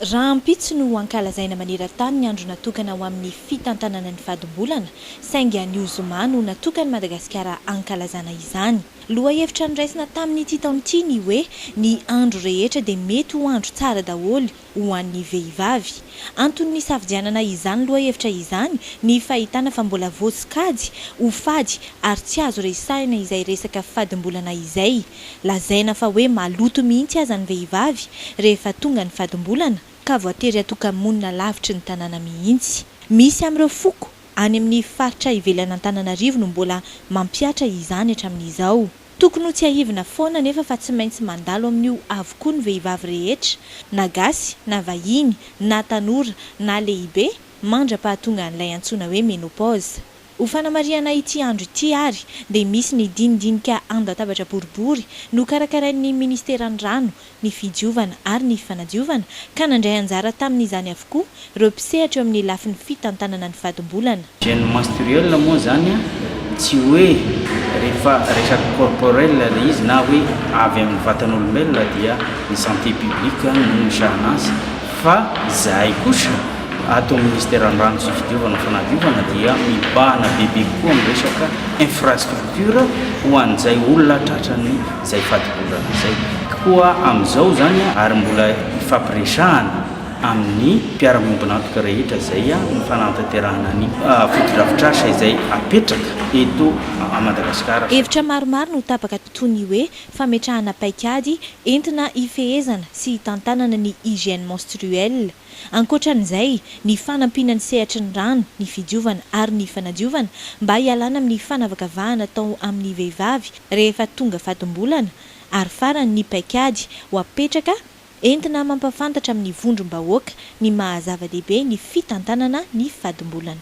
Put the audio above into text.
Rahampitso no hankalazaina maneran-tany ny andro natokana ho amin'ny fitantanana ny fadimbolana, saingy anio zoma no natokan'i Madagasikara hankalazana izany. Lohahevitra noraisina tamin'ity taona ity ny hoe ny andro rehetra dia mety ho andro tsara daholo ho an'ny vehivavy. Antony nisafidianana izany lohahevitra izany ny fahitana fa mbola voasokajy ho fady ary tsy azo resahina izay resaka fadimbolana izay. Lazaina fa hoe maloto mihitsy aza ny vehivavy rehefa tonga ny fadim-bolana ka voatery hatoka-monina lavitry ny tanàna mihitsy. Misy amin'ireo foko any amin'ny faritra ivelan'Antananarivo no mbola mampihatra izany hatramin'izao. Tokony ho tsiahivina foana anefa fa tsy maintsy mandalo amin'io avokoa ny vehivavy rehetra, na gasy, na vahiny, na tanora, na lehibe, mandra-pahatongan'ilay antsoina hoe ménopause. Ho fanamarihana ity andro ity ary dia misy ny dinidinika an-databatra boribory nokarakarain'ny Ministeran'ny Rano, ny Fidiovana ary ny Fanadiovana ka nandray anjara tamin'izany avokoa ireo mpisehatra eo amin'ny lafiny fitantanana ny fadim-bolana. Gènes menstruels moa izany tsy hoe rehefa resaka corporel ilay izy na hoe avy amin'ny vatan'olombelona dia ny santé publique no misahana azy Fa izahay kosa ato amin'ny Ministeran'ny Rano sy Fidiovana Fanadiovana dia mibahana bebe kokoa amin'ny resaka infrastructure ho an'izay olona tratran'ny izay fadibohana izay. Koa amin'izao izany ary mbola hifampiresahana amin'ny mpiara-miombon'antoka rehetra izay ny fanantanterahana ny fotodrafitrasa izay hapetraka eto Madagasikara. Hevitra maromaro no tapaka toy ny hoe fametrahana paikady Entina hifehezana sy hitantanana ny hygiène menstruelle. Ankoatran'izay, ny fanampiana ny sehatry ny rano, ny fidiovana ary ny fanadiovana mba hialana amin'ny fanavakavahana atao amin'ny vehivavy rehefa tonga fadim-bolana, ary farany ny paikady ho apetraka entina mampahafantatra amin'ny vondrom-bahoaka ny maha-zava-dehibe ny fitantanana ny fadim-bolana.